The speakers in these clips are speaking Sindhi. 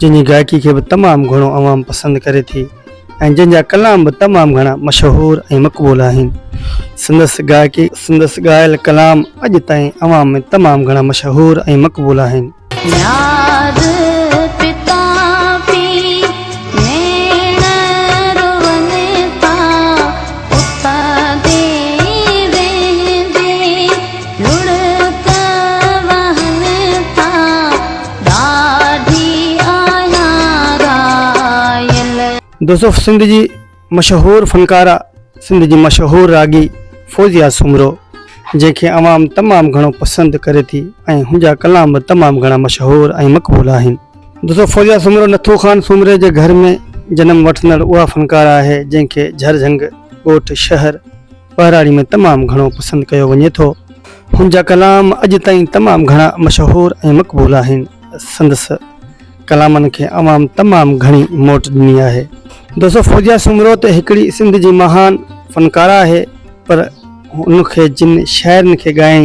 جنهن جي گائڪي کي به تمام گهڻو عوام پسند ڪري ٿي ۽ جنهن جا ڪلام به تمام گهڻا مشهور ۽ مقبول آهن. سندس گائڪي ۽ سندس ڳايل ڪلام اڄ تائين عوام ۾ تمام گهڻا مشهور ۽ مقبول آهن. ڏاڍي آهيان رايل. دوستو سنڌ جي مشهور فنڪاره سنڌ جي مشهور راڳي فوزيه سومرو جنهن کي عوام تمام گهڻو پسند ڪري ٿي ۽ هن جا ڪلام به تمام گهڻا مشهور ۽ مقبول آهن. دوستو فوزيه سومرو نٿو خان سومري جي گهر ۾ جنم وٺندڙ اها فنڪاره آهي جنهن کي جهرجهنگ ڳوٺ شهر. ٻهراڙي ۾ تمام گهڻو پسند ڪيو وڃي ٿو. هن جا ڪلام اڄ تائين تمام گهڻا مشهور ۽ مقبول آهن. سندس ڪلامن کي عوام تمام گهڻي موٽ ڏني آهي. دوستو فوزيا سومرو ته هڪڙي سنڌ جي مهان فنڪاره آهي پر هن کي جن شاعرن کي ڳائين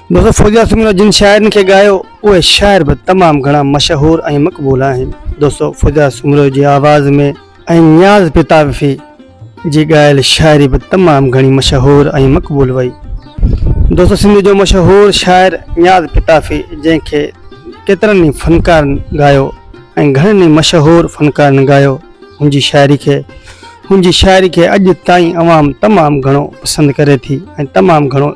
مظفر جاسم لاء جن شاعرن کي ڳايو اهي شاعر به تمام گهڻا مشهور ۽ مقبول آهن دوستو فوجا سومرو جي آواز ۾ ۽ نياز پتاوفي جي ڳايل شاعري به تمام گهڻي مشهور ۽ مقبول وئي دوستو سنڌ جو مشهور شاعر نياز پتاوفي جنهن کي ڪيترن ئي فنڪارن ڳايو ۽ گهڻن ئي مشهور فنڪارن ڳايو هن جي شاعري کي هن جي شاعري کي اڄ تائين عوام تمام گهڻو پسند ڪري ٿي ۽ تمام گهڻو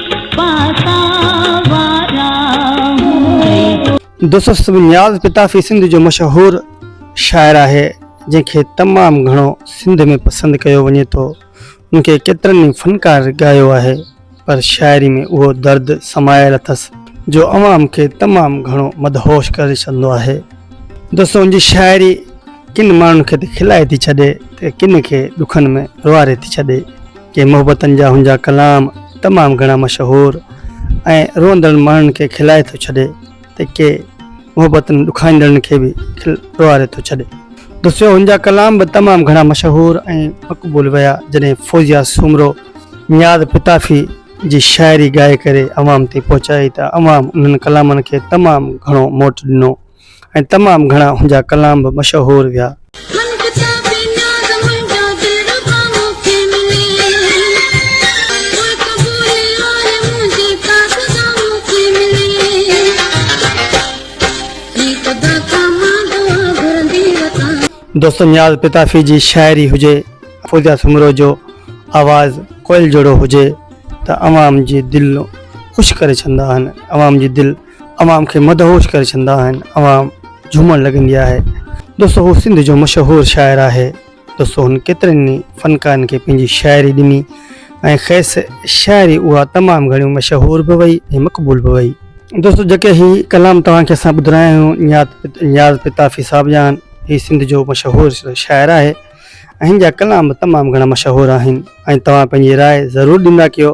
دوسسب نياز پتافي سنڌ جو مشهور شاعر آهي جنهن کي تمام گهڻو سنڌ ۾ پسند ڪيو وڃي ٿو ان کي ڪيترن ئي فنڪار ڳايو آهي پر شاعري ۾ اهو درد سمايل اٿس جو عوام کي تمام گهڻو مدهوش ڪري ڇڏندو آهي دوستو ان جي شاعري ڪن ماڻهن کي ته کلائي ٿي ڇڏي ته ڪن کي ڏکن ۾ روئاري ٿي ڇڏي. ڪي محبتن جا هن جا ڪلام تمام گهڻا مشهور ۽ روئندڙن ماڻهن کي کلائي ٿو ڇڏي ته ڪي محبتن ڏکائيندڙن کي به کل ڏوهاري ٿو ڇڏي. دسيو هن جا ڪلام به تمام گهڻا مشهور ۽ مقبول ويا جڏهن فوزيا سومرو نياز پتافي جي شاعري ڳائي ڪري عوام تائين پهچائي ته عوام انهن ڪلامن کي تمام گهڻو موٽ ڏنو. ۽ تمام گهڻا هن جا ڪلام به مشهور ويا. دوست نياز پتافي جي شاعري هجي يا فوزيا سومرو جو آواز ڪوئل جهڙو هجي ته عوام جي دلون خوش ڪري ڇڏندا آهن عوام جي دل عوام کي مدهوش ڪري ڇڏندا آهن عوام جهومڻ لڳندي آهي دوستو هو سنڌ جو مشهور شاعر آهي دوستو هن ڪيترن ئي فنڪارن کي پنهنجي شاعري ڏني ۽ کيس شاعري اها تمام گهڻي مشهور به وئي ۽ مقبول به وئي دوستو جيڪي هي ڪلام توهان کي اسان ٻڌرايا آهيون نياز نياز پتافي صاحب جان هي سنڌ جو مشهور شاعر آهي ۽ هن جا ڪلام به تمام گهڻا مشهور آهن ۽ توهان پنهنجي راء ضرور ڏيندا ڪيو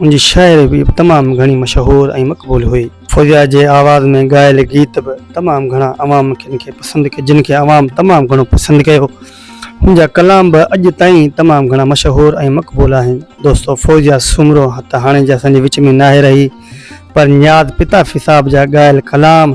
ان جي شاعري به تمام گهڻي مشهور ۽ مقبول هئي. فوزيا جي آواز ۾ ڳايل گيت به تمام گهڻا عوام کين کي پسند ڪيا جن کي عوام تمام گهڻو پسند ڪيو. هن جا ڪلام به اڄ تائين تمام گهڻا مشهور ۽ مقبول آهن. دوستو فوزيا سومرو ته هاڻي جي اسان جي وچ ۾ ناهي رهي پر نياز پتافي صاحب جا ڳايل ڪلام،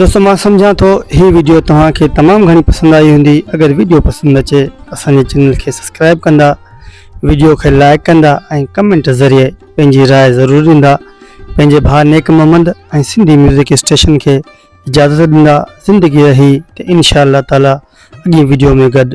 دوستو مان سمجهان ٿو هي ويڊيو توهان کي تمام گهڻي پسند آئي هوندي اگر ويڊيو پسند اچي اسان جي چينل کي سبسڪرائب ڪندا ويڊيو کي لائڪ ڪندا ۽ ڪمنٽ ذريعي پنهنجي راء ضرور ڏيندا پنهنجي ڀاء نيڪ محمد ۽ سنڌي ميوزڪ اسٽيشن کي اجازت ڏيندا زندگي رهي ته انشاء الله تعالي اڳين ويڊيو ۾ گڏ